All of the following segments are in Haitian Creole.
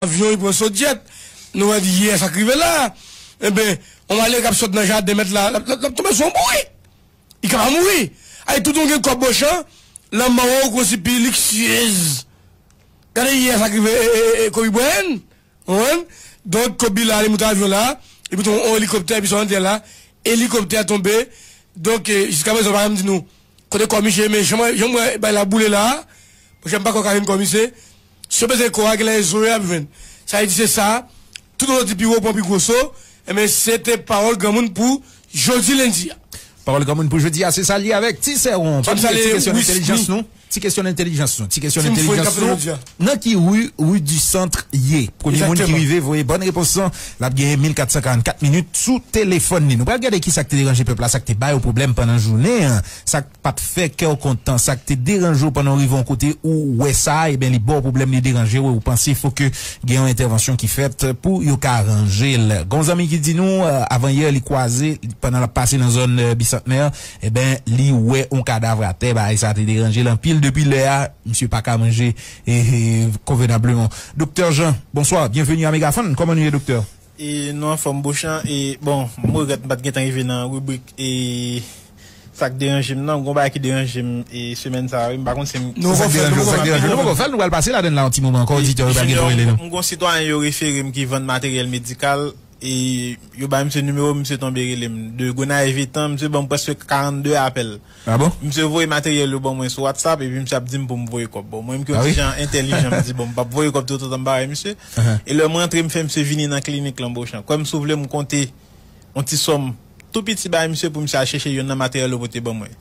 Avyon li pran sot jet. Nou wè di yè sak rive la. Enben, yon male kap sot nan jaden mèt la, lap tonbe sou yon bourik. Li ka pa mouri. Ay toutoun gen kòb ochan, lanmò ou kon si pi liksyez. Gade yè sak rive Kobe Bryant. Ou konprann? Donk Kobe la li moute avyon la, li moute yon elikoptè epi sou an tè la, elikoptè a tonbe. Donk jiska prezan ou pa janm di nou kote kò misye ye men jan m wè bay la boule la, monchè m pa kwè yo ka jwenn kò misye. Si yo bezwen kò a, gen lè e zo yo y ap jwenn. Sa vle di se sa, tout ozo di pi wo pran pi gwo so. Enben, se te pawòl granmoun pou jodi lendi a. Pawòl granmoun pou jodi a se sa l ye avèk Ti Sèwon. Pa bliye ti kesyon entelijans nou, ti kesyon entelijans nou, ti kesyon entelijans nou, Nan ki ri Rue du Centre ye? Premye moun ki rive voye bòn repons lan, l ap genyen 1444 minit sou telefòn li. Nou pral gade ki sa k te deranje pèp la, sa k te ba yo pwoblèm pandan jounen an, sa k. pa t fè kè w kontan, sa k te deranje w pandan w rive yon kote ou wè sa, eben li ba w pwoblèm, li deranje w e w panse fò ke gen yon entèvansyon ki fèt pou yo ka ranje l. Gen yon zanmi ki di nou avan yè li kwaze, pandan l ap pase nan zòn Bisantnè, eben li wè yon kadavr atè, bagay sa te deranje l anpil, depi lè a misye pa ka manje konvenableman. Doktè Jean, bonswa, byenveni a Megafon, kòman nou ye doktè? E nou anfòm Beauchamp e bon m regrèt m pat gentan rive nan ribrik e Sak deranje m nan, gon bagay ki deranje m e semèn sa wi, m pa konn si m. Nou poko fèl, nou poko fèl, nou poko fèl, nou pral pase ladann la yon ti moman ankò oditè yo pral gen pou rele nou. M gon sitwayen yo refere m ki vann materyèl medikal e yo bay misye nimewo m misye tonbe rele m de Gonayiv etan misye banm prèske 42 apèl misye voye materyèl yo ban mwen sou whatsapp epi misye ap di m pou m voye kòb bon mwen m ki yon ti jan entèlijan m di bon m pap voye kòb toutotan m pa wè misye e lè m rantre m fè misye vini nan klinik lan Beauchamp kwè m si w vle m konte yon ti sòm tou piti bay misye pou misye al chèche youn nan materyèl yo pote ban mwen.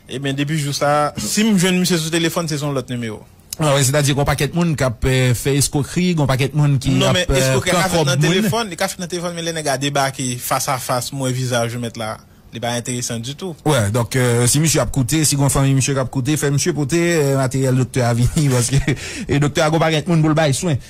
Ebyen, depi jou sa a, si m jwenn misye sou telefòn, se sou yon lòt nimewo. A, wè, sètadi gen yon pakèt moun k ap fè eskwokri, gen yon pakèt moun ki ap pran kòb moun. Non, men eskwokri a ka fèt nan telefòn, li ka fèt nan telefòn, men lè nèg la debake fas a fas, m wè vizaj ou mèt la, li pa enteresan ditou. Wè, donk, si misye ap koute, si gen yon fanmi misye k ap koute, fè misye pote materyèl doktè a vini, paske doktè a gen yon pakèt moun pou l bay swen.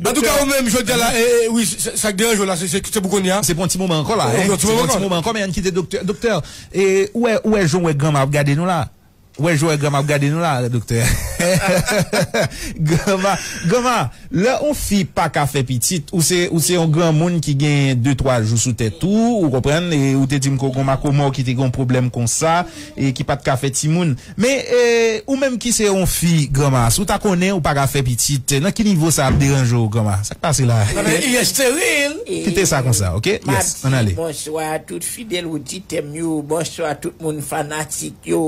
Antouka ou menm jodya la wi sak deranje w la se pou kounya. Se pou yon ti moman ankò la. Se pou yon ti moman ankò men ann kite doktè. Doktè ou wè ou wè jan w wè granma ap gade nou la. Ou wè jan w wè granma ap gade nou la doktè. Granma granma lè yon fi pa ka fè pitit ou se ou se yon granmoun ki gen de twa jou sou tèt ou ou konprann e ou te di m ke w gen yon makomò ki te gen yon pwoblèm konsa e ki pa t ka fè timoun. Men ou menm ki se yon fi granma si w ta konnen ou pa ka fè pitit nan ki nivo sa ap deranje w granma sa k pase la kite sa konsa ok yes ann ale. Bonswa tout fidèl oditèm yo bonswa tout moun fanatik yo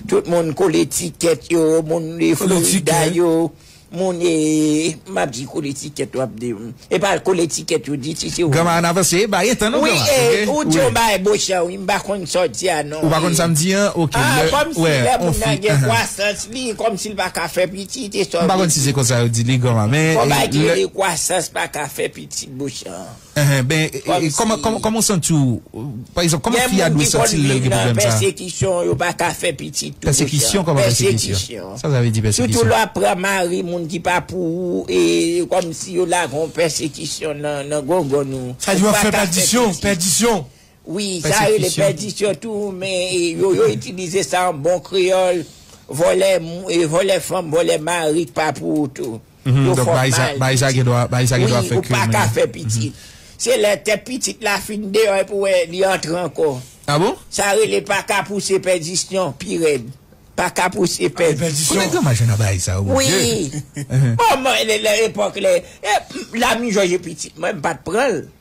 tout moun kole tikèt yo moun de Florida yo Moun eeeeh map di kole ticket wap di m epa kole ticket yo di si se ou Granma menm. an avanse epa gen tan non Wi granma ok eeh ou di wi. yon bagay bochan wi m pa konn sa w di a Ou non pa konn sa m eeh di an ok ah lè kòm wè si lè on moun fi nan gen ahan. kwasans li kòm si l pa ka fè pitit e sa M w pa vle konn si di. se konsa yo di li granma men Gon bagay ki lè. rele kwasans pa ka fè pitit bochan. Kòman w santi w? Pa egzanp, kòman fi a dwe santi l lè l gen pwoblèm sa? Gen moun ki konn viv nan pèsekisyon, yo pa ka fè pitit tou dousan. Pèsekisyon? Kòman pèsekisyon? Sa sa vle di pèsekisyon? Sitou lè w ap pran mari moun ki pa pou ou, e kòmsi yo lage yon pèsekisyon nan gongon ou. Sa di w ap fè pèdisyon, pèdisyon? Wi, sa yo rele pèdisyon tou, men yo itilize sa an bon kreyòl, vòlè fanm, vòlè mari k pa pou ou tou. Yo fòk nan al pitit. Wi, ou pa ka fè pitit. Se lè tèt pitit la fin deyò epi ou wè li antre ankò. A bon? Sa rele pa ka pouse pèdisyon, pi rèd. Pa ka pouse pèdisyon. Anpil pèdisyon. Konnen granma jwenn nan bagay sa yo, mon Dieu. Wi. Bon, mwen lè epòk lè, la m jòj e pitit mwen, m pa t pran l.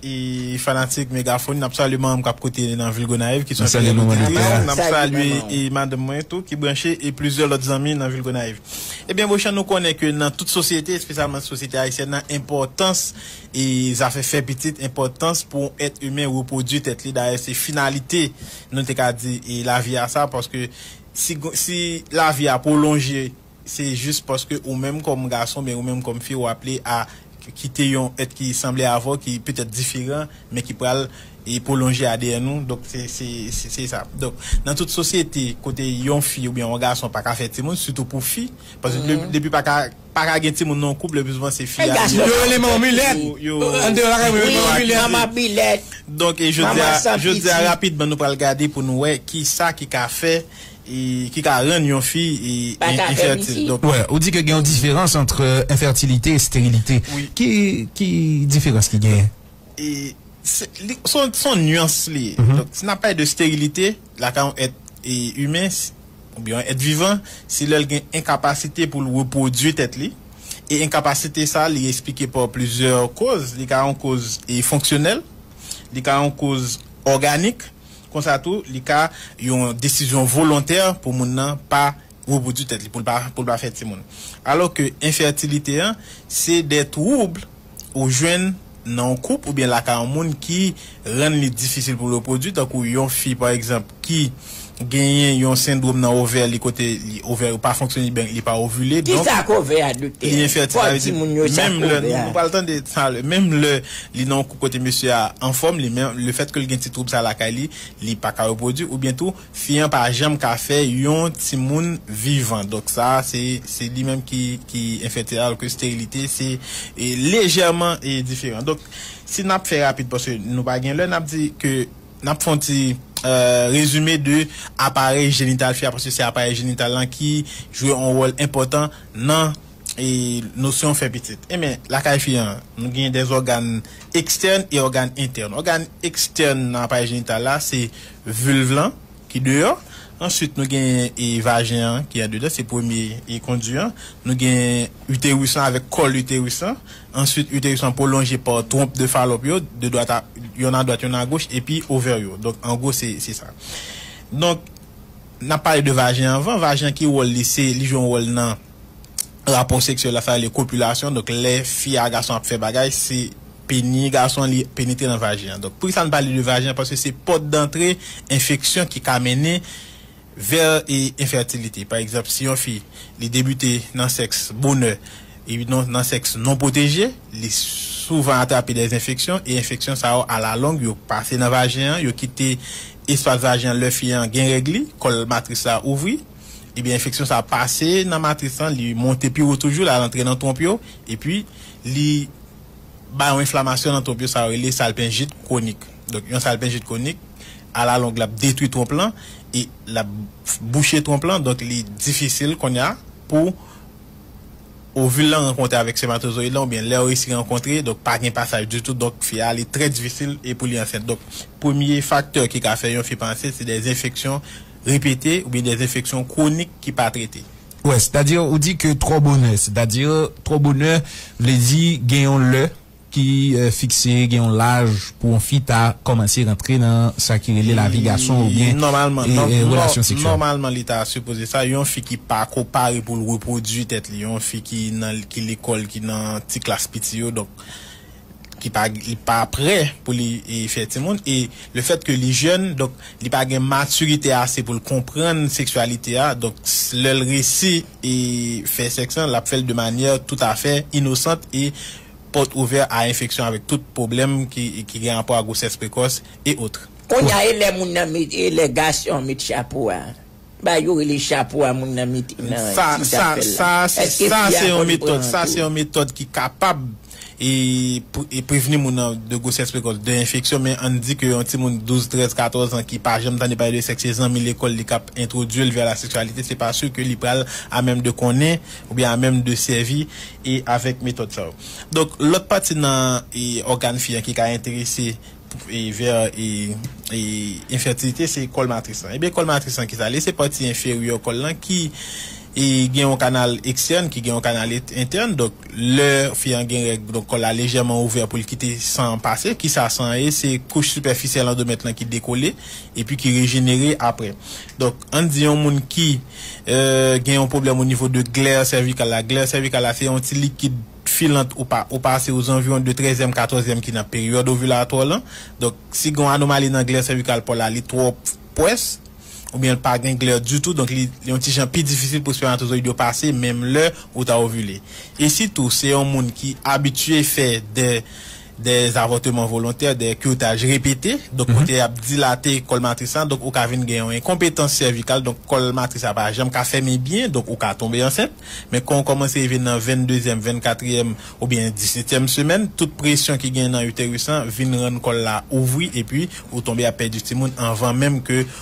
E fanatik Megafon, n ap salye manmanm k ap koute nan vil Gonayiv ki s yon fidèl oditris. N ap salye e madanm mwen tou ki branche e plizyè lòt zanmi nan vil Gonayiv. Ebyen Bochan nou konnen ke nan tout sosyete, espesyalman sosyete ayisyèn nan, enpòtans e zafè fè pitit, enpòtans pou yon èt imen repwodui tèt li, dayè se finalite nou te ka di e lavi a sa paske si si lavi a pwolonje Se jis paske ou menm kòm gason oubyen ou menm kòm fi ou aple a kite yon èt ki sanble avè w ki petèt diferan men ki pral pwolonje adn ou donk se sa donk nan tout sosyete kote yon fi oubyen yon gason pa ka fè timoun sitou pou fi paske depi pa ka gen timoun nan yon koup le pi souvan se fi a yo rele manman milèt andeyo lakay mwen yo rele manman milèt wi manman milèt donk jodia rapidman nou pral gade pou nou wè kisa ki ka fè ki ka rann yon fi enfètil. Ou di ke gen yon diferans antre enfètilite e sterilite. Ki diferans ki genyen? Se yon nuans li ye. Si n ap pale de sterilite lakay yon èt imen oubyen yon èt vivan, se lè l gen enkapasite pou l repwodui tèt li. E enkapasite sa a li esplike pa plizyè koz. Li ka yon koz fonksyonèl, li ka yon koz òganik, Konsa tou, li ka yon desizyon volontè pou moun nan pa repwodui tèt li, pou l pa fè timoun. Alò ke enfètilite an, se de twoubl ou jwenn nan yon koup oubyen lakay yon moun ki rann li difisil pou l repwodui, tankou yon fi pa egzanp ki genyen yon sendwom nan ovè li kote ovè yo pa fonksyone li byen, li pa ovile, donk li enfètil. Sa vle di menm lè, nou pral tande sa a lè, menm lè. Li nan yon koup kote mesye a anfòm li men le fèt ke l gen ti twoub sa lakay li, li pa ka repwodui oubyen tou fi an pa janm ka fè yon timoun vivan donk sa a se se li menm ki ki enfètil alò ke sterilite se lejèman diferan donk si n ap fè rapid paske nou pa gen lè n ap di ke n ap fè yon ti rezime de aparèy jenital fi a paske se aparèy jenital lan ki jwe yon wòl enpòtan nan E nosyon fè pitit. Enben, lakay fi an, nou gen de ògàn ekstèn e ògàn entèn. Ògàn ekstèn nan aparèy jenital la, se vilv lan ki deyò. Answit, nou gen e vajen an ki andedan, se premye e kondi an. Nou gen uterus lan avèk kòl uterus lan. Answit, uterus lan pwolonje pa twonp de Falòp yo, de dwat a, yonn a dwat, yonn a goch, epi ovè yo. Donk, an gwo, se, se sa. Donk, n ap pale de vajen anvan. Vajen an, ki wòl li? Se, li jwe yon wòl nan. rapò seksyèl la sa rele kopilasyon donk lè fi a gason ap fè bagay se peni gason li penetre nan vajen an donk poukisa nou pale de vajen paske se pòt dantre enfeksyon ki ka mennen vè enfètilite pa egzanp si yon fi li debite nan sèks bonè epi non nan sèks non pwoteje li souvan atrape dè enfeksyon e enfeksyon sa yo alalong yo pase nan vajen an yo kite espas vajen an lè fi an gen règ li kòl matris la ouvri. Ebyen enfeksyon sa pase nan matris lan li monte pi wo toujou lal antre nan twonp yo epi li bay yon enflamasyon nan twonp yo sa yo rele salpenjit kwonik donk yon salpenjit kwonik alalong lap detwi twonp lan e lap bouche twonp lan donk li difisil konnya pou ovil lan rankontre avèk sèmatozoyid lan oubyen lèw resi rankontre donk pa gen pasaj ditou donk fi a li trè difisil e pou li ansent donk premye faktè ki ka fè yon fi pa ansent se dè enfeksyon repete oubyen des enfeksyon kwonik ki pa trete. Wè, sètadi ou di ke twò bonè, sètadi twò bonè vle di gen yon lè ki fikse, gen yon laj pou yon fi ta kòmanse rantre nan sa ki rele lavi gason oubyen relasyon seksyèl. Nòmalman li ta sipoze sa, yon fi ki pa ko pare pou l repwodui tèt li, yon fi ki nan ki lekòl, ki nan ti klas piti yo donk. ki pa li pa prè pou li fè timoun e le fèt ke li jèn donk li pa gen matirite ase pou l konprann seksyalite a donk lè l resi e fè sèks lan l ap fè l de manyè tout afè inosant e pòt ouvè a enfeksyon avèk tout pwoblèm ki gen rapò a gwosès prekòs e otre. Kounya e lè moun nan met e lè gason an met chapo a. Bagay yo rele chapo a moun nan mete nan ti sak pèl la. Eske fi a konn pran an Sa se yon metòd ki kapab prevni moun nan de gwosès prekòs, de enfeksyon men an n di ke yon timoun 12, 13, 14 an ki pa janm tande pale de sèks se zanmi lekòl li k ap entwodui l vè la seksyalite se pa si ke li pral a menm de konnen oubyen a menm de sèvi avèk metòd sa yo. Donk lòt pati nan ògàn fi an ki ka enterese Ver enfètilite se kòl matris lan. Ebyen kòl matris lan kisa li ye? Se pati enferyè kòl lan ki gen yon kanal ekstèn, ki gen yon kanal entèn. Donk lè fi an gen règ, donk kòl la lejèman ouvè pou l kite san an pase. Kisa san an ye? Se kouch sipèfisyèl andomèt lan ki dekole epi ki rejenere aprè. Donk an n di yon moun ki gen yon pwoblèm onivo de glè sèvikal la. Glè sèvikal la se yon ti likid. Filant ou pa ou pa se ozanviwon de trèzyèm katòzyèm ki nan peryòd ovilatò w lan. Donk, si gen yon anomali nan glè sèvikal pa w la, li twò pwès oubyen l pa gen glè ditou, donk li yon ti jan pi difisil pou spèmatozoyid yo pase menm lè ou ta ovile. E sitou, se yon moun ki abitye fè de. de zavòteman volontè, de kirtaj repete, donk kote y ap dilate kòl matris la, donk ou ka vin gen yon enkonpetans sèvikal, donk kòl matris la pa janm ka fèmen byen, donk ou ka tonbe ansent, men kan ou kòmanse rive nan vendezyèm, vennkatriyèm oubyen disetyèm semèn, tout presyon ki gen nan uterus lan vin rann kòl la ouvri epi ou tonbe ap pèdi timoun anvan menm ke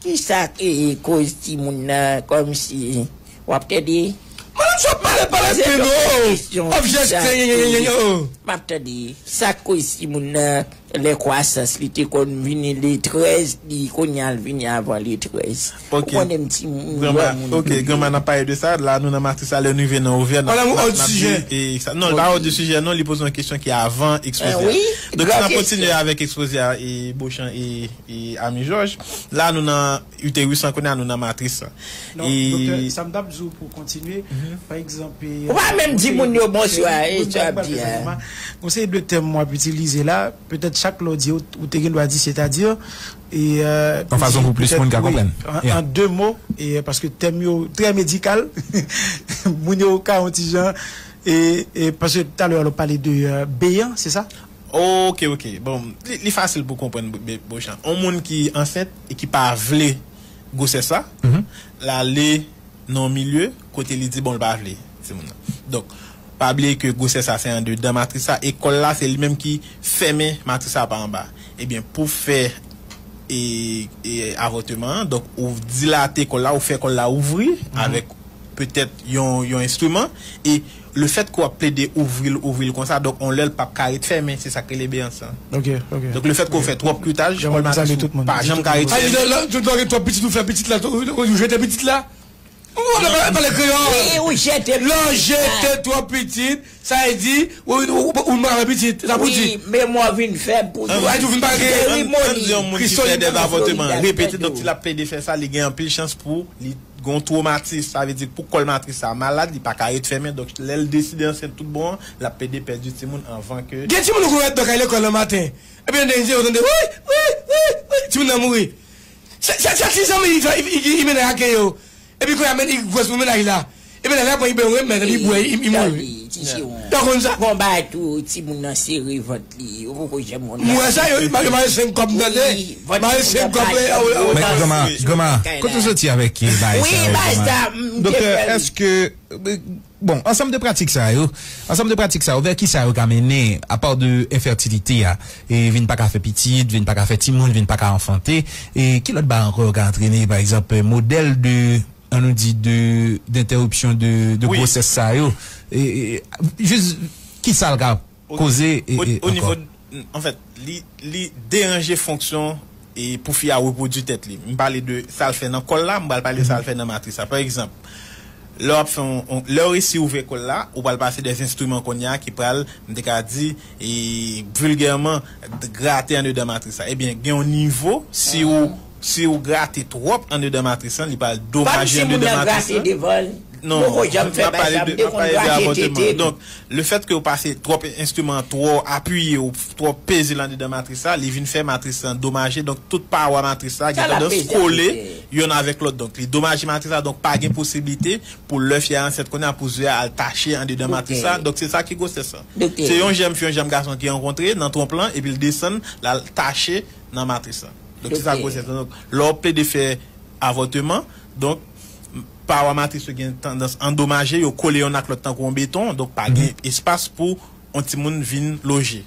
Kisa ki koz timoun nan komsi wap tande. Madanm sa ap mare palestin oh ap jès grenyenyenyenyen oh. Map tande sak koz timoun nan lè kwasans li te konn vini le 13 li kounya l vini avan le 13 ou konnem timoun granmoun yo ye. Ok granma nap pale de sa la nou nan matris la lè nou rive nan ovè nap di eksa non li pa òd de sijè non li poze yon kesyon ki avan ekspoze a donk ann ap kontinye avèk ekspoze a Beauchamp e. E ami jòj. La nou nan uterus lan kounya nou nan matris lan. Non doktè sa m tap di w pou w kontinye pa egzanp e Ou pa menm di moun yo bonswa e sa w ap di a. Gon seri de tèm w ap itilize la petèt chak lè w di ou te gen dwa di setadi e Yon fason pou plis moun ka konprann wi an de mo e paske tèm yo trè medikal moun yo ka yon ti jan e paske talè w ap pale de beyan se sa? Ok ok bon li fasil pou konprann Beauchamp on moun ki ansent e ki pa vle gwosès la lale nan on milye kote li di bon li pa vle timoun nan donk pa bliye ke gwosès la se andedan matris la e kòl la se li menm ki fèmen matris la pa anba ebyen pou fè avòteman an donk ou dilate kòl la ou fè kòl la ouvri avèk petèt yon enstriman e Le fèt ke w ap plede ouvri l ouvri l konsa donk yon lè l pap ka ret fèmen se sak rele beyans lan. Donk le fèt ke w fè twòp kuitaj kòl matris ou pa janm ka ret fèmen. Ayibobo Ayidòl lè w gen twòp pitit ou fè pitit la ou jete pitit la? Ou pa ka pale kreyòl? Lè w jete twòp pitit sa vle di ou pa fè pitit se sa pou w di? Memwa w vin fèb pou nou. Ayiti ou vin pa gen. An n di yon moun ki fè 2 avòteman repete donk si l ap plede fè sa li gen anpil chans pou li Gon twomatis, sa vle di pou kòl matris sa malad li paka ret fèmen donk lèl deside ansent tout bon an lap pede pèdi timoun anvan ke. Gen timoun ou konn wè dò kay lekòl nan maten epi nan dènye ti yo tande wouyy wouyy wouyy wouyy timoun nan mouri se se ti zanmi li twa i mennen ak e yo epi kounye a menn i gwòs pou mennaj la e mennaj la pran i benw remèt epi i bwè i mouri ou pa konn sa. Bon bagay tou timoun nan sere vant Yo poko janm konn sa. M wè sa yo wi paske mare 5 kob m tande mare 5 kob mwen a ou ta Grandma Grandma kote ou soti avèk bagay sa yo Grandma Doktè èske bon ansanm de pratik sa yo ansanm de pratik sa yo vè kisa yo ka mennen apa de enfètilite a e vin pa ka fè pitit vin pa ka fè timoun vin pa ka anfante e ki lòt bagay ankò yo ka antrene pa egzanp modèl de an nou di de dentèripsyon de gwosès sa yo e jis kisa l ka. Koze ankò. Anfèt, li deranje fonksyon pou fi a repwodui tèt li. M pale de sa l fè nan kò l la, m pral pale de sa l fè nan matris la. Pa egzanp, lè w ap fè yon, lè w resi ouvè kò l la, ou pral pase de enstriman kounye a ki pral, m te ka di, vilgèman, grate andedan matris la. Ebyen, gen yon nivo, si ou. Si ou grate twòp andedan matris lan li pral domaje andedan matris lan. Non, mwen ap pale de abòteman. Donk, le fèt ke ou pase twòp enstriman an twò apiye ou twò peze l andedan matris la, li vin fè matris lan domaje. Donk, tout pawa matris la gen tandans kole yonn avèk lòt. Donk, li domaje matris la. Donk, pa gen posiblite pou lè fi a ansent kounye a pou ze a al tache andedan matris la. Donk, se sa ki gwosès lan. Se yon jèm fi yon jèm gason ki rankontre nan twonp lan epi l desann l al tache nan matris lan. Donk se sa gwosès lan. Donk lè w plede fè avòteman, donk pawa matris yo gen tandans andomaje, yo kole yonn ak lòt tankou yon beton, donk pa gen espas pou yon timoun vin loje,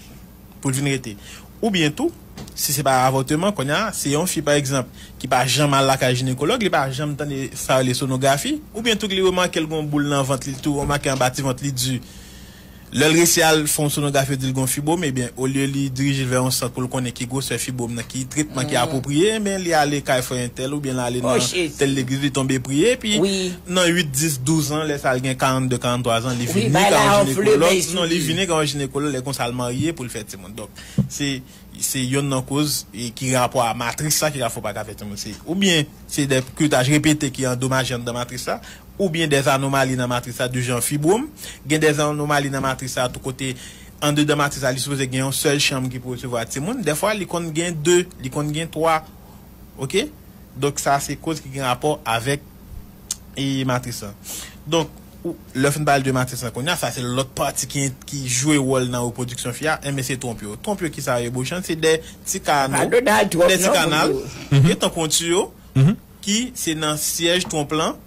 pou l vin rete. Oubyen tou, si se pa avòteman, kounye a, se yon fi pa egzanp ki pa janm al lakay jinekològ, li pa janm tande sa yo rele sonografi, oubyen tou li remake l gen yon boul nan vant li, li tou remake anba ti vant li di. Lè l resi al fè yon sonograf yo di l gen yon fibwom ebyen olye li dirije l vè yon sant pou l konnen ki gwosè fibwom nan ki tretman ki apwopriye ebyen li ale kay frè entèl oubyen l ale nan tèl legliz li tonbe priye epi nan 8 10 12 an lè sa l gen 42 43 zan li vini ka yon jinekològ non li vini ka yon jinekològ lè konsa l marye pou l fè timoun donk se se yonn nan koz ki gen rapò a matris la ki ka fè w pa ka fè timoun se oubyen se de kiretaj repete ki andomaje anndan matris la oubyen dè anomali nan matris la de jan fibwom, gen dè anomali nan matris la tou kote andedan matris la li sipoze gen yon sèl chanm ki pou resevwa timoun, dèfwa li konn gen 2, li konn gen 3 ok, donk sa se koz ki gen rapò avèk e matris lan. Donk lè fin pale de matris lan kounya sa se lòt pati ki ki jwe wòl nan repwodiksyon fi a, enben se twonp yo, twonp yo kisa yo ye bochan se dè ti kano, dè ti kanal, ok tankou yon tiyo. ki se nan syèj twonp lan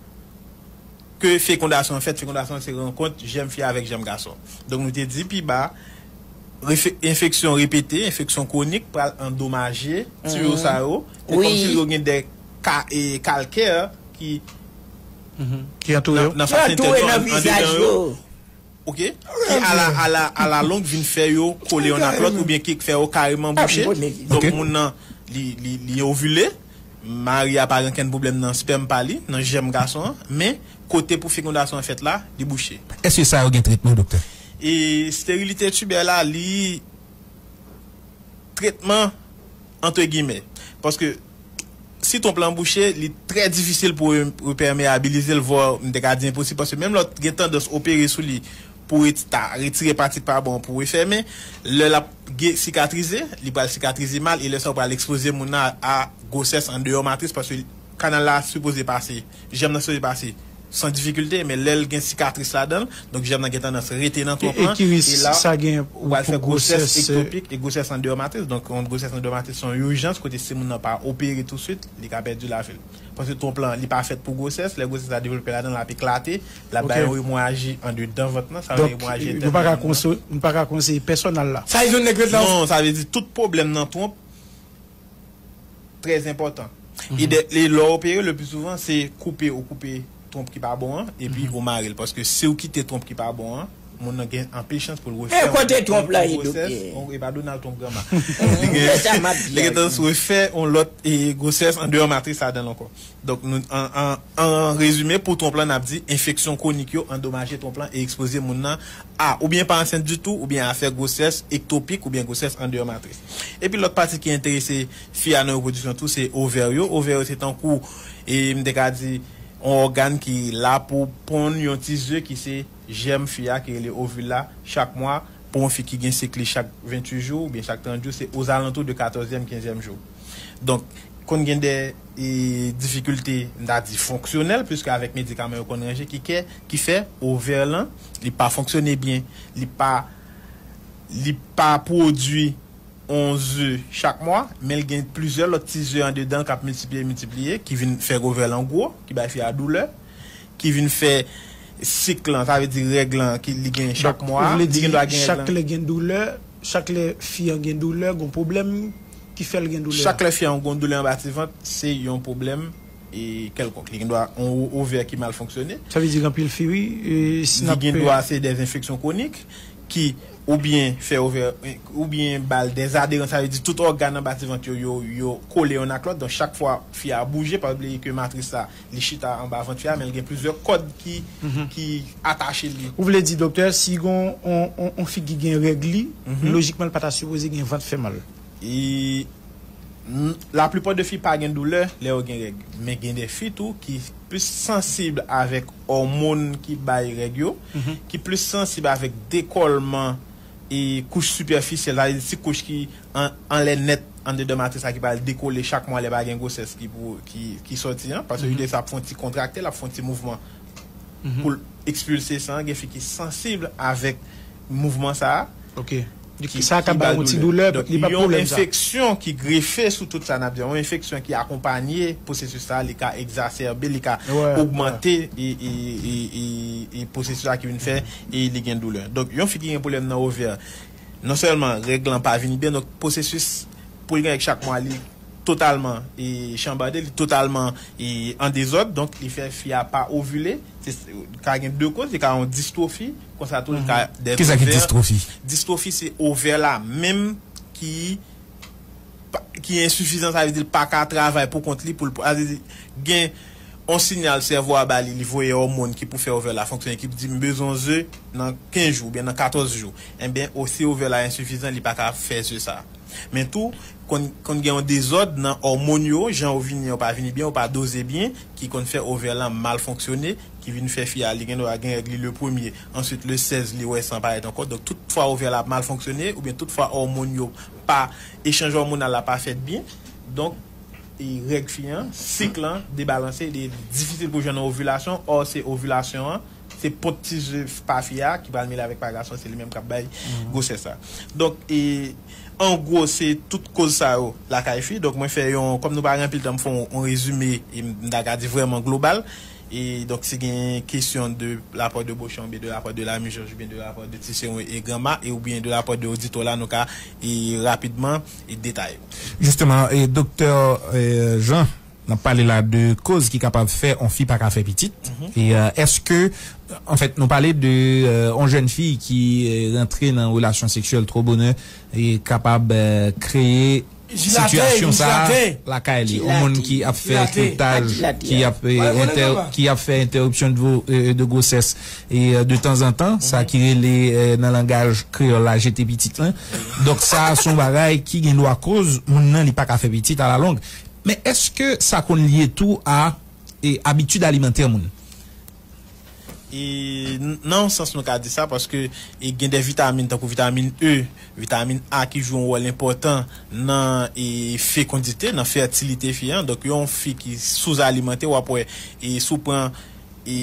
ke fekondasyon an fèt, fekondasyon se rankont jèm fi avèk jèm gason donk nou te di pi ba enfeksyon repete, enfeksyon kwonik pral andomaje tiyo sa yo se kòmsi yo gen de ka kalkè ki nan fasyente yo andedan yo. ok ki ala ala alalong vin fè yo kole yonn ak lòt oubyen ki k fè yo kareman bouche donk moun nan li li li ovile mari a pa gen okenn pwoblèm nan spèm pa li nan jèm gason an men kote pou fekondasyon an fèt la li bouche. Èske sa yo gen tretman doktè? Esterilite tibè la li. tretman antre gimè. Paske si twonp lan bouche, li trè difisil pou repèmeabilize l, vwa m te ka di enposib, paske menm lè w gen tandans opere sou li pou ta retire pati k pa bon pou refèmen, lè l ap sikatrize, li pral sikatrize mal e lè sa ou pral ekspoze moun nan a gwosès andeyò matris paske Kanal la sipoze pase, jèm nan sipoze pase san difikilte men lè l gen sikatris ladan l, donk jèm nan gen tandans rete nan twonp lan e la ou al fè gwosès ektopik e gwosès andeyò matris. Donk yon gwosès andeyò matris se yon ijans kote si moun nan pa opere touswit li ka pèdi lavi l. Paske twonp lan li pa fèt pou gwosès, lè gwosès la devlope ladan l l ap eklate, l ap bay yon emoraji andedan vant lan, sa rele emoraji entèn nan lang nan. Donk nou pa ka konseye pèsòn al la. Sa vle di yon nèg ret la. Non, sa vle di tout pwoblèm nan twonp. trè enpòtan. Ide li lè w opere le pli souvan se koupe ou koupe twonp ki pa bon an epi ou mare l paske si w kite twonp ki pa bon an moun nan gen anpil chans pou l refè yon lòt twonp gwosès e pa Donald Twonp granma li gen chans refè yon lòt gwosès andeyò matris ladan l ankò. Donk, an rezime, pou twonp lan, n ap di enfeksyon kwonik yo andomaje twonp lan e ekspoze moun nan a oubyen pa ansent ditou oubyen a fè gwosès ektopik oubyen gwosès andeyò matris. Epi lòt pati ki enterese fi a nan repwodiksyon tou se ovè yo. Ovè yo se tankou, m te ka di, yon ògàn ki la pou ponn yon ti ze ki se jèm fi a ki rele ovil la. Chak mwa, pou yon fi ki gen sik li chak 28 jou oubyen chak 30 jou, se ozalantou de katòzyèm, kenzyèm jou. Donk, konn gen de difikilte, m ta di fonksyonèl, puiske avèk medikaman yo konn ranje ki kè, ki fè ovè lan, li pa fonksyone byen, li pa, li pa pwodui on ze chak mwa, men l gen plizyè lòt ti ze andedan l k ap miltipliye, miltipliye, ki vin fè ovè lan gwo, ki bay fi a doulè, Ki vin fè sik lan, sa vle di règ lan ki li gen chak mwa a. Li gen dwa gen règ lan. Donk ou vle di chak lè gen doulè, chak lè fi an gen doulè, gon pwoblèm ki fè l gen doulè a? Chak lè fi an gon doulè anba ti vant, se yon pwoblèm kèlkonk. Li gen dwa yon ovè ki mal fonksyone. Sa vle di gen anpil fi wi, si n ap. Li gen dwa se dè enfeksyon kwonik ki oubyen fè ovè, oubyen ba l dè aderans, sa vle di tout ògàn anba ti vant yo, yo kole yonn ak lòt. Donk chak fwa fi a bouje, pa bliye ke matris la. li chita anba vant fi a men l gen plizyè kòd ki atache li. Ou vle di doktè si gon on fi ki gen règ li lojikman l pa ta sipoze gen vant fè mal? La plupart de fi pa gen doulè lè yo gen règ men gen de fi tou ki plis sansib avèk òmon ki bay règ yo ki plis sansib avèk dekòlman kouch sipèfisyèl sa vle di ti kouch ki anlè nèt anndan de matris la ki pral dekole chak mwa lè pa gen gwosès ki pou ki sòti an paske uterus la ap fè yon ti kontrakte l ap fè yon ti mouvman pou l ekspilse san gen fi ki sansib avèk mouvman sa a ok sa a ka ba l yon ti doulè li pa pwoblèm sa yon enfeksyon ki grefe sou tout sa n ap di a yon enfeksyon ki akonpanye pwosesis sa a li ka egzasèbe li ka ogmante pwosesis sa a ki vin fè li gen doulè donk yon fi ki gen pwoblèm nan ovè. Non sèlman règ lan pa vini byen, donk pwosesis pou l gen règ chak mwa li totalman chanbade, li totalman an dezòd, donk li fè fi a pa ovile, li ka gen 2 koz, li ka yon distrofi, konsa tou li ka dèz ovè. Kisa ki distrofi? Distrofi se ovè la menm ki ki ensifizan sa vle di l paka travay pou kont li pou l, sa vle di gen. On sinyal sèvo a ba li, li voye òmon ki pou fè ovè la fonksyone ki di m bezwen yon ze nan 15 jou oubyen nan 14 jou. Enben, o si ovè la ensifizan li pa ka fè ze sa. Men tou, konn konn gen yon dezòd nan òmon yo, jan yo vini an yo pa vini byen, yo pa doze byen, ki konn fè ovè lan mal fonksyone, ki vin fè fi a li gen dwa gen règ li le premye, answit le 16 li wè san parèt ankò. Donk tout fwa ovè la ap mal fonksyone oubyen tout fwa òmon yo pa, echanj òmonal la pa fèt byen, donk. règ fi an, sik lan, debalanse e li difisil pou jwenn yon ovilasyon, or se ovilasyon an, se pot ti ze pa fi a ki pral mele avèk pa gason se li menm kap bay gwosès la. Donk e an gwo se tout koz sa yo lakay fi. Donk mwen fè yon, kòm nou pa gen anpil tan m fè yon rezime e m ta ka di vrèman global. E donk si gen kesyon de la part de Beauchamp oubyen de la part de Lamy Georges oubyen de la part de Tisserand e Granma e oubyen de la part de Auditola nou ka e rapidman. detay yo. Jisteman, doktè Jean, n ap pale la de koz ki kapab fè on fi pa ka fè pitit. E èske, anfèt, nou pale de on jèn fi ki rantre nan relasyon seksyèl two bonè e kapab kreye sitiyasyon sa a lakay li. On moun ki ap fè kiltaj, ki ap fè entèripsyon de gwosès, E de tanzantan, sa ki rele nan langaj kreyòl la jete pitit lan. Donk sa a se yon bagay ki gen dwa koz moun nan li pa ka fè pitit alalong. Men èske sa konn lye tou a abitid alimantè moun? E nan yon sans nou ka di sa paske gen de vitamin tankou vitamin E, vitamin A ki jwe yon wòl enpòtan nan fekondite, nan fètilite fi an. Donk yon fi ki souzalimante w ap wè si w pran. e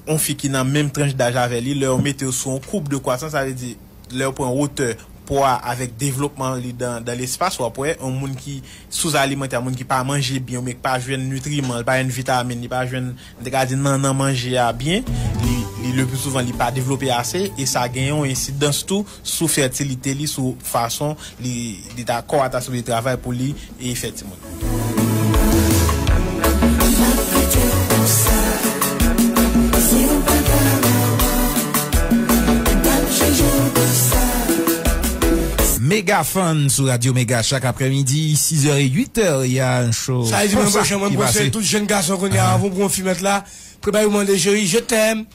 yon fi ki nan menm tranch daj avè li, lè yo mete yo sou yon koub de kwasans, sa vle di, lè yo pran wotè po a avèk devlopman li dan dan lespas, w ap wè yon moun ki souzalimante, yon moun ki pa manje byen oubyen ki pa jwenn nitriman, li pa jwenn vitamin, li pa jwenn, m te ka di nannan manje a byen, li, li le pli souvan li pa devlope ase, e sa gen yon ensidans tou sou fètilite li, sou fason li, li ta, kò a ta sipoze travay pou li e fè timoun. Mega Fun sou Radio Mega chak aprè midi 6 è 8 è y a un show Sa e di mwen bwè chan mwen bwè sèl tout jèn gason kounya avan ou pran yon fi mèt la prepa yo mande cheri je t'aime.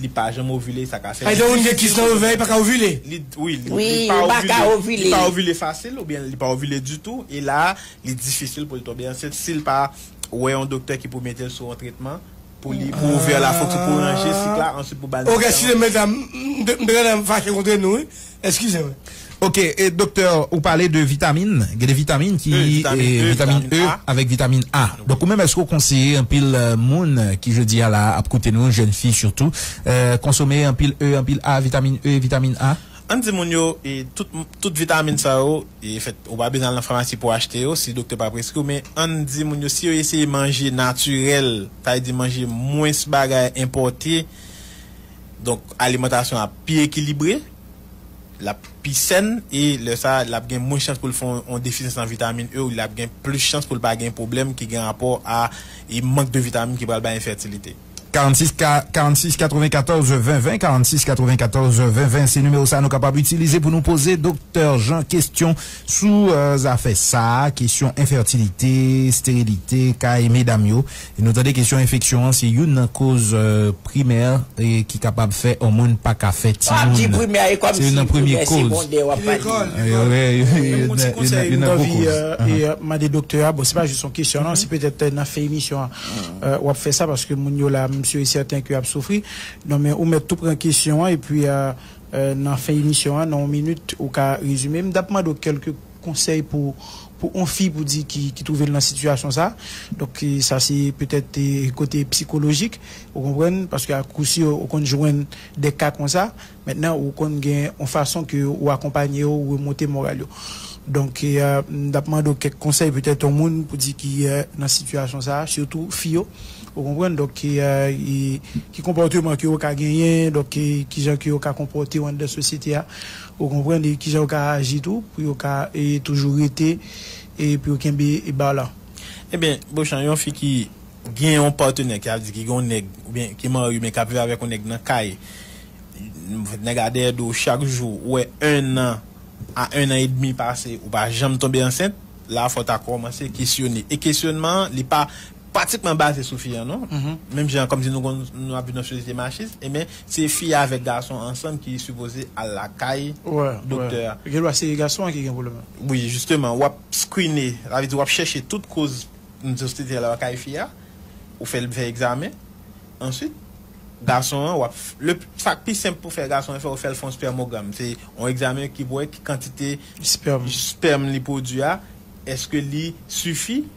li pa janm ovile sa ka fè li difisil pou li fè sa. Li paka ovile? Wi, li pa ovile fasil oubyen li pa ovile ditou e la a li difisil pou li tonbe ansent si li pa wè yon doktè ki pou mete li sou yon tretman pou li pou ovè la fokse pou ranje sik la answit pou ba li medikaman. Ok si se medam m te gentan fache kontre nou wi Eskize m. Ok, doktè ou pale de vitamin, gen de vitamin ki vitamin E avèk vitamin A. Donk ou menm èske ou konseye anpil moun ki jodi a la ap koute nou, jèn fi sitou, konsome anpil E, anpil A, vitamin E, vitamin A? Ann di moun yo tout vitamin sa yo e fèt ou pa bezwen al nan famasi pou achte yo si doktè pa preskri w men ann di moun yo si yo eseye manje natirèl sa vle di manje mwens bagay enpòte Donk alimantasyon an ap pi ekilibre, l ap pi sèn e lè sa l ap gen mwens chans pou l fè yon defisyans nan vitamin E ou l ap gen plis chans pou l pa gen pwoblèm ki gen rapò a mank de vitamin ki pral bay enfètilite. 46 ka 46 94 20 20 46 94 20 20 se nimewo sa nou kapab itilize pou nou poze Doktè Jean kesyon sou zafè sa kesyon enfètilite, sterilite kay medam yo E nou tande kesyon enfeksyon an se youn nan koz primè ki kapab fè on moun pa ka fè timoun. Se youn nan premye koz. Yon ti konsèy m t anvi mande doktè a, bon se pa jis yon kesyon non, si petèt nan fen emisyon an w ap fè sa paske moun yo la m si e sèten ke y ap soufri. Non men ou mèt tou pran kesyon an epi nan fen emisyon an nan yon minit ou ka rezime. M t ap mande w kèlke konsèy pou pou on fi pou di ki ki trouvel nan sitiyasyon sa donk sa se petèt kote psikolojik ou konprann paske a kou si ou konn jwenn de ka konsa mentnan ou konn gen on fason ke ou akonpanye yo ou remonte moral yo donk m tap mande w kèk konsèy petèt on moun pou di ki nan sitiyasyon sa sitou fi yo ou konprann donk ki konpòteman ke yo ka genyen donk kijan ke yo ka konpòte yo anndan sosyete a. Ou konprann e kijan yo ka aji tou pou yo ka toujou rete e pou yo kenbe bar la. Ebyen Bochan yon fi ki gen yon patenè ki ap di ki gen yon nèg oubyen ki marye men kap viv avèk yon nèg nan kay nèg a dèyè do chak jou ou wè 1 an a 1 an edmi pase ou pa janm tonbe ansent la fò ta kòmanse kesyone e kesyonman an li pa pratikman baze sou fi an non menm jan kòmsi nou konn nou ap viv nan sosyete machis ebyen se fi a avèk gason ansanm ki sipoze al lakay doktè a. Gen dwa se gason an ki gen pwoblèm nan. Wi jisteman wap skrine sa vle di wap chèche tout koz sosyete a lakay fi a ou fè l fè egzamen answit gason an wap le sa k pi senp pou fè gason an fè ou fè l fè yon spèmogram se yon egzamen ki pou wè ki kantite spèm li pwodwi a èske li sifi.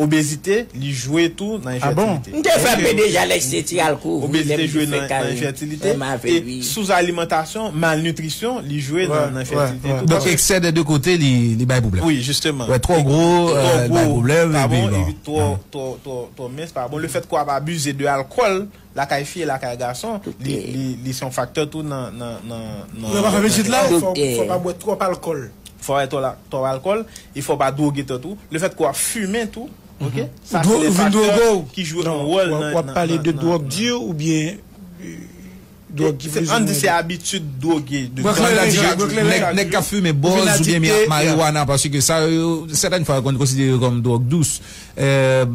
Obezite, li jwe tou nan enfètilite. M te fè anpe deja lè se ti alko wi lèm te fè karin fèm avèl wi. Souzalimantasyon, malnitrisyon, li jwe nan enfètilite tou. Donk eksè dè 2 kote li bay pwoblèm. Wi jisteman. Wè twò gwo li bay pwoblèm epi bon. Twò mens pa bon. Lefèt ke wap abize de alkòl. lakay fi e lakay gason li son faktè tou nan fò pa bwè twòp alkòl fò pa bwè twòp alkòl e fò pa dwoge tèt ou le fèt ke wap fimen tou ok sa se de faktè ki jwe yon wòl nan wap pale de dwòg di ou byen dwòg ki vle an di se abitid dwoge nèg kap fimen bòz ou byen mariwana paske sa yo sètèn fwa yo konn konsidere kòm dwòg dous.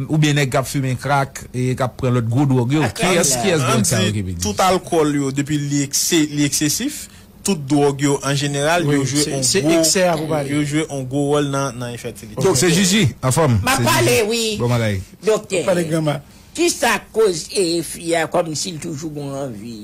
Oubyen nèg kap fimen krak e kap pran lòt gwo dwòg yo. Kiyès kiyès dwòg sa yo ki pi di? Tout alkòl yo depi li eksesif, tout dwòg yo an jeneral yo jwe on gwo yo jwe on gwo wòl nan enfètilite. Donk se jiji anfòm. Map pale wi doktè. Kisa koz fi a kòmsi l toujou gon anvi?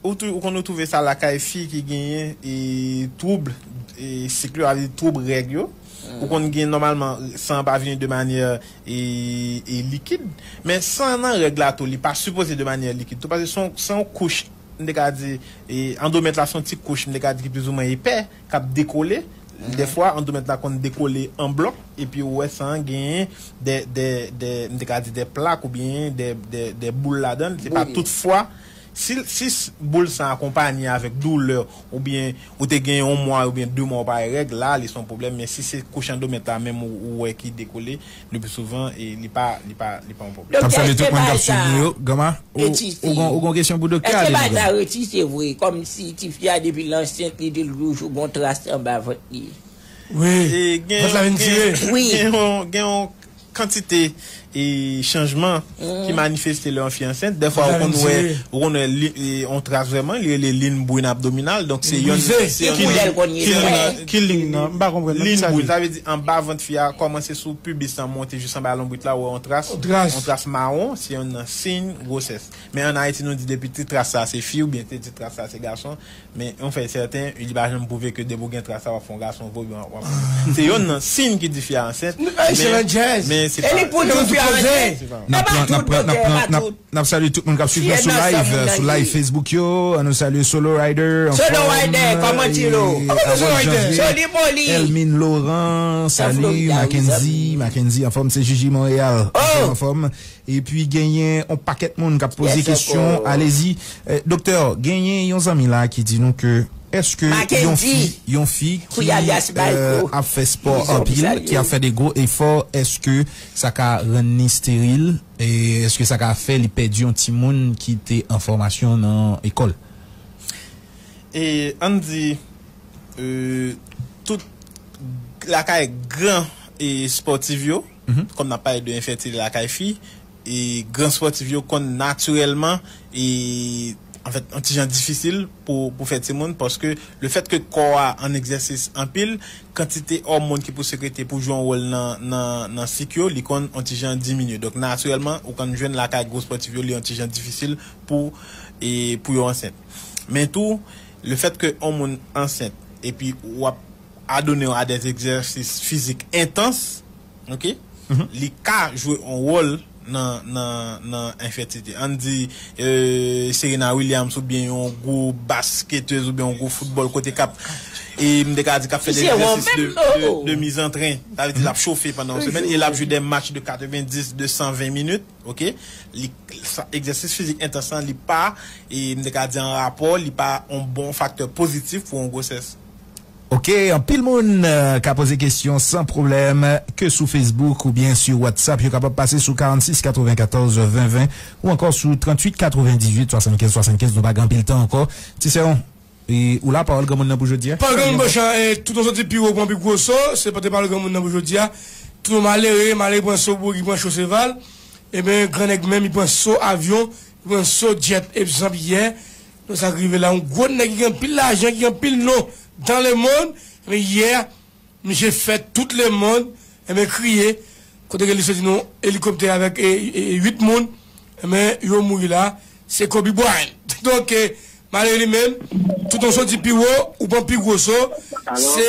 Ou konn ou twouve sa lakay fi ki genyen twoub sik yo, sa vle di twoub règ yo. Ou konn gen nòmalman san an pa vini de manyè likid. Men san an nan règ la tou li pa sipoze de manyè likid tou paske se yon kouch, m te ka di andomèt la se yon ti kouch m te ka di ki plizoumwen epè. k ap dekole, dèfwa andoumet la konn dekole an blòk epi ou wè san an genyen dè dè dè m te ka di dè plak oubyen dè dè dè boul ladan l se pa tout fwa si si boul san akonpanye avèk doulè oubyen ou te gen yon mwa oubyen de mwa ou pa wè règ la li s on pwoblèm men si se kouch andomet la menm ou wè ki dekole Le plus souvent e li pa li pa li pa yon pwoblèm. Doktè eske baay sa e ti fi. Eske baay sa retise vre kom si ti fi a depi l ansent li di l toujou gon tras anba vant li. Wi vant la vin tire. Gen yon kantite chanjman. ki manifeste lè yon fi ansent, dèfwa ou konn wè ou konn wè yon tras vrèman, li rele lin brin abdominal, donk se yon Ki koulè l konn ye vre? Ki lin nan? M pa konprann nan, ki sa l ye? Lin brin, sa vle di anba vant fi a, kòmanse sou pibis lan monte jis anba lonbrit la ou wè yon tras, yon tras mawon, se yon nan siy gwosès. Men an Ayiti nou di depi ti tras sa se fi oubyen te ti tras sa se gason, Men yon fè sèten, li pa janm pwouve ke depi w gen tras la w ap fè yon gason vre oubyen w ap fè. Se yonn nan siy ki di fi a ansent, men se pa. N ap salye tout moun k ap swiv nou sou live, sou live Facebook yo. An nou salye Solo Rider, anfòm, Harold Janvier, Elmine Laurent, Salut, Mackendy, Mackendy anfòm, se Jiji Montréal, anfòm, anfòm. Epi genyen on pakèt moun kap poze kesyon alezi doktè genyen yon zanmi la ki di nou ke eske yon fi yon fi ki ap fè spò anpil ki ap fè de gwo efò eske sa ka rann ni steril eske sa ka fè li pèdi yon ti moun ki te an fòmasyon nan ekòl e ann di tout lakay gran espòtiv yo. Kòm n ap pale de enfètilite lakay fi, gran spòtif yo konn natirèlman anfèt yon ti jan difisil pou fè timoun paske lefèt ke kò a an egzèsis anpil, kantite òmon ki pou sekrete pou jwe yon wòl nan sik yo li konn yon ti jan diminye. Donk natirèlman ou konn jwenn lakay gwo spòtif yo li yon ti jan difisil pou yo ansent. Men tou lefèt ke yon moun ansent epi ou ap. Adone w a dè egzèsis fizik entans, ok, li ka jwe yon wòl nan enfètilite. Ann di Serena Williams oubyen yon gwo basketez oubyen yon gwo foutbòl kote k ap, m te ka di k ap fè dè egzèsis de mizantren, sa vle di l ap chofe pandan yon semèn e l ap jwe dè match de 90, de 120 minit, ok, li, egzèsis fizik entans lan li pa, m te ka di an rapò, li pa yon bon faktè pozitif pou yon gwosès. Ok anpil moun ka poze kesyon san pwoblèm ke sou Facebook ou byen su WhatsApp yo kapab pase sou 46 94 20 20 ou ankò sou 38 98 75 75 nou pa gen anpil tan ankò ti sè on ou la pawòl granmoun nan pou jodia. Pa granmoun bon chan e tout on soti pi wo pran pi gwo so se pote pawòl granmoun nan pou jodia tout on malere malere pran so bwogi pran cho seval eben gran nèg menm li pran so avyon li pran so djèt epzanp yè Nan sak rive la yon gwo nèg ki gen anpil lajan ki gen anpil non dans le monde ebyen yè misye fè tout le monde ebyen kriye kote ke li soti nan yon elikoptè avèk 8 moun ebyen yo mouri la se Kobe Bryant donk malere li menm tout an soti pi wo ou pran pi gwo so se.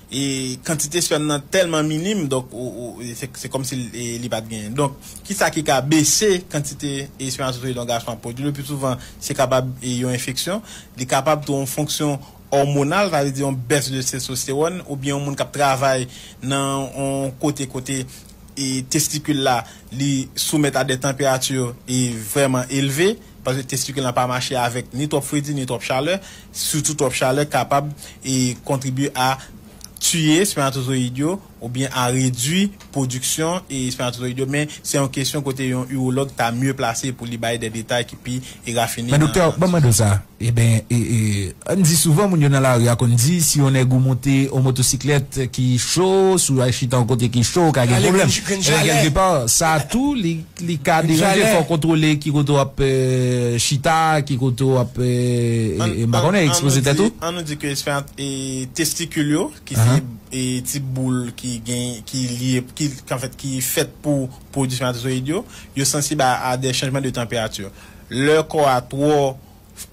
E kantite spèm nan tèlman minim donk se kòmsi li pat genyen. Donk kisa ki ka bese kantite espèmatozoyid yon gason ap pwodui? Lepi souvan se kapab yon enfeksyon, li kapab tou yon fonksyon òmonal, sa vle di yon bès de testostewòn oubyen yon moun kap travay nan yon kote kote. testikil la li soumèt a de tanperati vrèman elve, paske testikil la pa mache avèk ni twòp fredi ni twòp chalè, sitou twòp chalè kapab kontribye a tiye spèmatozoyid yo oubyen a redwi pwodiksyon spèmatozoyid yo, men se yon kesyon kote yon iwològ ta mye plase pou li bay de detay ki pi Men doktè, banm mande w sa, eben ann di souvan moun yo nan lari a konn di si yon nèg ou monte yon motosiklèt ki cho, si w al chita yon kote ki cho ou ka gen pwoblèm, eben kèlke pa sa tou li ka deranje, fò w kontwole ki kote w ap chita, ki kote w ap m pa konnen ekspoze tèt ou. An nou di ke testikil yo ki se ti boul ki gen, ki lye, ki anfèt ki fèt pou pwodui spermatozoyid yo, yo sansib a a dè chanjman de tanperati. Lè kò a twò,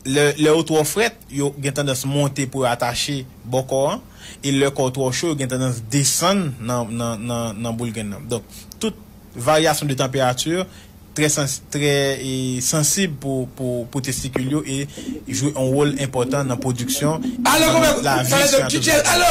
lè ou twò frèt, yo gen tandans monte pou yo atache bò kò an, e lè kò ou twò cho, yo gen tandans desann nan boul grenn nan. Donk, tout varyasyon de tanperati trè sansib pou testikil yo e jwe yon wòl enpòtan nan pwodiksyon e nan lavi spermatozoyid la.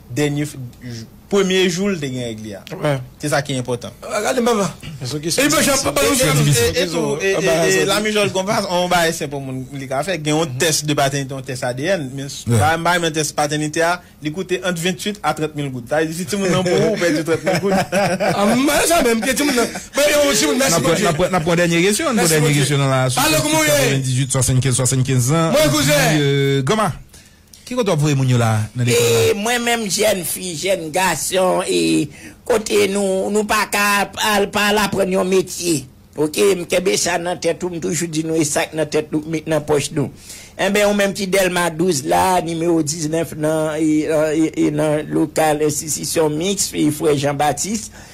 Dènye premye jou l te gen règ li a. Se sa ki enpòtan. Gade baba. E la mijòl gon pa on bagay senp on moun li ka fè. Gen on tès de patènite, on tès adn. Men bagay m bay men tès patènite a, li koute ant 28 a 30 mil goud. Sa vle di si timoun nan pou ou, ou pèdi 30 mil goud. Mwen sa menm ke timoun nan. Mwen yon timoun mèsi Bondye. N ap pran dènye kesyon. An n pran dènye kesyon nan la. Pale kouman ou ye? 98 75 75 zan. Mwen kouzen. Granma. Ki kote wap voye moun yo la nan lekòl la? E mwen menm jèn fi, jèn gason e kote nou nou pa ka al pa al aprann yon metye ok m kenbe sa nan tèt ou m toujou di nou e sak nan tèt nou k met nan pòch nou enben ou menm ki dèlma 12 la nimewo 19 nan e nan lokal enstitisyon miks frè jan batis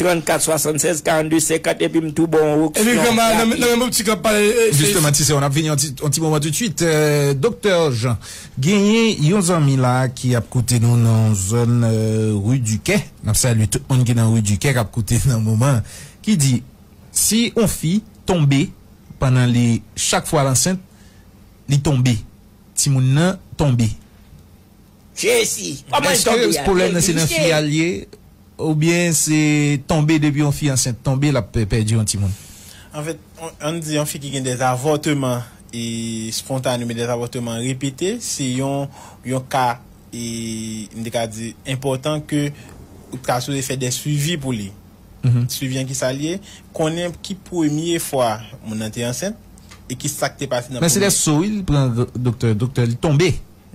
34 76 42 50 epi m tou ba w yon oksyon rapid. Justement ti sè yo n ap vini yon ti moman toutswit. Doktè Jean genyen yon zanmi la ki ap koute nou nan zòn Rue du Quai n ap salye tout moun ki nan Rue du Quai k ap koute nan moman an ki di si yon fi tonbe pandan li chak fwa l ansent li tonbe timoun nan tonbe. Jezi! Koman l tonbe a? Eske pwoblèm nan se nan fi a l ye oubyen se tonbe depi yon fi ansent tonbe l ap pèdi yon timoun? Anfèt, ann di yon fi ki gen dè avòteman espontane oubyen dè avòteman repete se yon ka m te ka di enpòtan ke ou ta sipoze fè dè swivi pou li. Swivi an kisa l ye? Konnen ki premye fwa moun nan te ansent e kisa k te pase nan premye. Men se lè so wi l pran doktè, doktè li tonbe.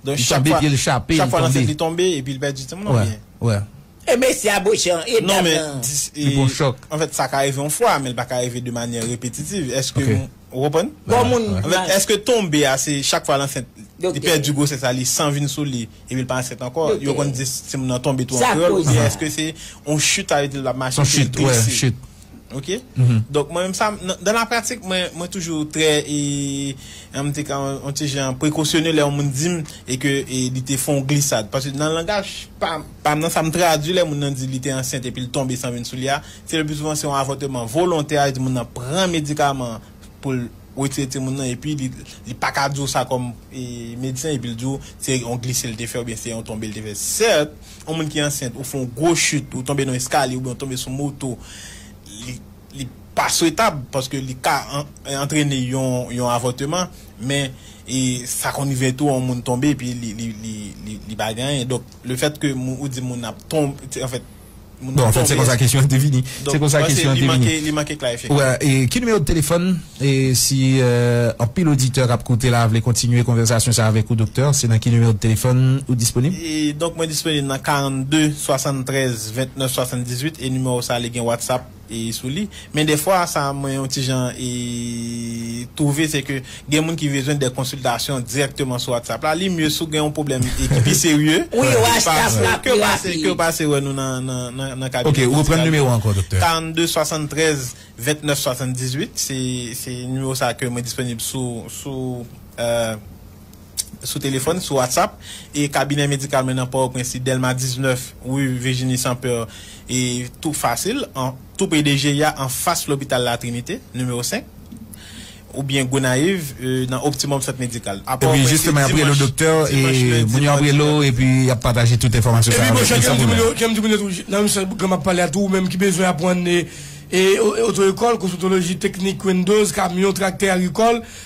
Li tonbe pye l chape li tonbe. Chak fwa nan sèt li tonbe epi li pèdi timoun an oubyen? E mesye a bouche an e dam nan. Li pran chòk. Anfèt sa ka rive yon fwa men li pa ka rive de manyè repetitiv. Èske ou konprann? Bon moun. Anfèt èske tonbe a se chak fwa l ansent li pèdi gwosès la li san vin sou li epi l pa ansent ankò? Yo konn di timoun nan tonbe tou an kreyòl oubyen èske se yon chute sa vle di l pa mache se glise? Ok donk mwen menm sa dan la pratik mwen toujou trè an tou ka yon ti jan prekosyone lè yon moun di m e ke li te fon glisad paske nan langaj pa m nan sa m tradwi lè moun nan di li te ansent epi l tonbe san vin sou li a se le pli souvan se yon avòteman volontè a e di moun nan pran medikaman an pou l Ou retire timoun nan epi li pa ka di w sa kòm medsen epi l di w se yon glise l te fè oubyen se yon tonbe l te fè. Sèt, yon moun ki ansent ou fè yon gwo chit, ou tonbe nan yon eskalye oubyen ou tonbe sou moto, li pa swetab paske li ka antrene yon avòteman men sa konn rive tou yon moun tonbe epi li pa gen anyen. Donk lefèt ke ou di moun nan ap tonbe, anfèt. Moun nan tonbe. Bon, an fèt, se konsa kesyon an te vini. Se konsa kesyon an te vini. Donk, li manke klarifye. Wè, e ki nimewo de telefòn? E si anpil oditè k ap koute la a vle kontinye konvèsasyon sa a avèk ou, doktè, se nan ki nimewo de telefòn ou disponib? E, donk, mwen disponib nan 42 73 29 78, e nimewo sa a li gen Whatsapp. sou li men dè fwa sa mwen yon ti jan twouve se ke gen moun ki bezwen dè konsiltasyon dirèkteman sou whatsapp la li mye si w gen yon pwoblèm ki pi serye ke w pase ke w pase wè nou nan kabinè medikal ok reprann nimewo a ankò doktè 42 73 29 78 se nimewo sa ke mwen disponib sou sou. sou telefòn, sou WhatsApp, e kabinè medikal mwen nan Pòtoprens li Delma 19, rue Virginie Sans Peur, e tou fasil, an tou pre de GIA an fas lopital La Trinite, nimewo 5, oubyen Gonayiv nan Optimum Sant Medikal. A Pòtoprens se dimanch, dimanch, lendi, madi, mèkredi. Epi bon chè kèm di moun yo, kèm di moun yo tou, nan menm sans Grand map pale a tou, ou menm ki bezwen aprann e oto ekòl, kosmetoloji, teknik, wendoz, kamyon, traktè, agrikòl,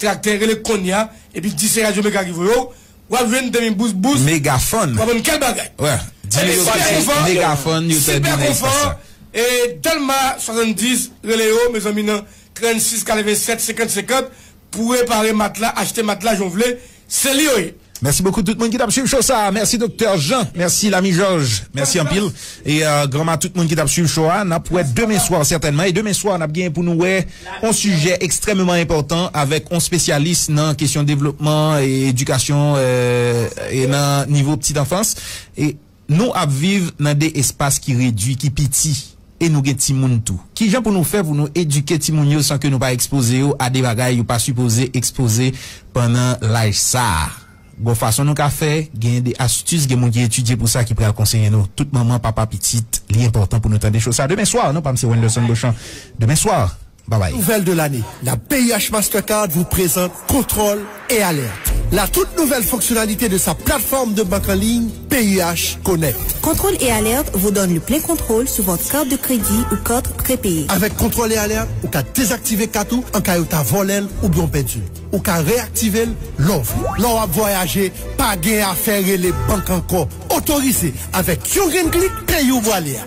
Traktè rele konnya epi di se radyo mega ki voye w wap jwenn demi bous bous Megafon. wap jwenn kèk bagay Diri yo ki se megafon yo te di nan espas sa. E delma 70 rele yo mezanmi nan 36 87 50 50 pou repare matla achte matla jan w vle Se li yo ye. Mèsi bokou tout moun ki tap swiv show sa a mèsi doktè Jean mèsi lami jòj mèsi anpil e granma tout moun ki tap swiv show a nap wè demen swa sètènman e demen swa nap gen pou nou wè on sijè ekstrèmeman enpòtan avèk on spesyalis nan kesyon devlopman e edikasyon e nan nivo ptit anfans e. Nou ap viv nan de espas ki redui, ki piti, e nou gen timoun tou. Kijan pou nou fè pou nou edike timoun yo san ke nou pa ekspoze yo a de bagay yo pa sipoze ekspoze pandan laj sa a? Gon fason nou ka fè, genyen de astis, gen moun ki etidye pou sa ki pral konseye nou. Tout manman, papa, pitit, li enpòtan pou nou tande cho sa. Demen swa, non pa m se Wenderson Beauchamp. Demen swa. Babay. Nouvelle de l'année, la BIH Mastercard vous présente Contrôle et Alerte, la toute nouvelle fonctionnalité de sa plateforme de banque en ligne BIH Connect. Contrôle et Alerte vous donne le plein contrôle sur votre carte de crédit ou carte prépayée. Avec Contrôle et Alerte, ou ka dezaktive kat ou an ka yo ta vòlè l oubyen w pèdi l. Ou ka reyaktive l lè w vle. Lè w ap vwayaje, pa gen afè rele bank ankò. Otorize avèk yon grenn klik peyi ou vwale a.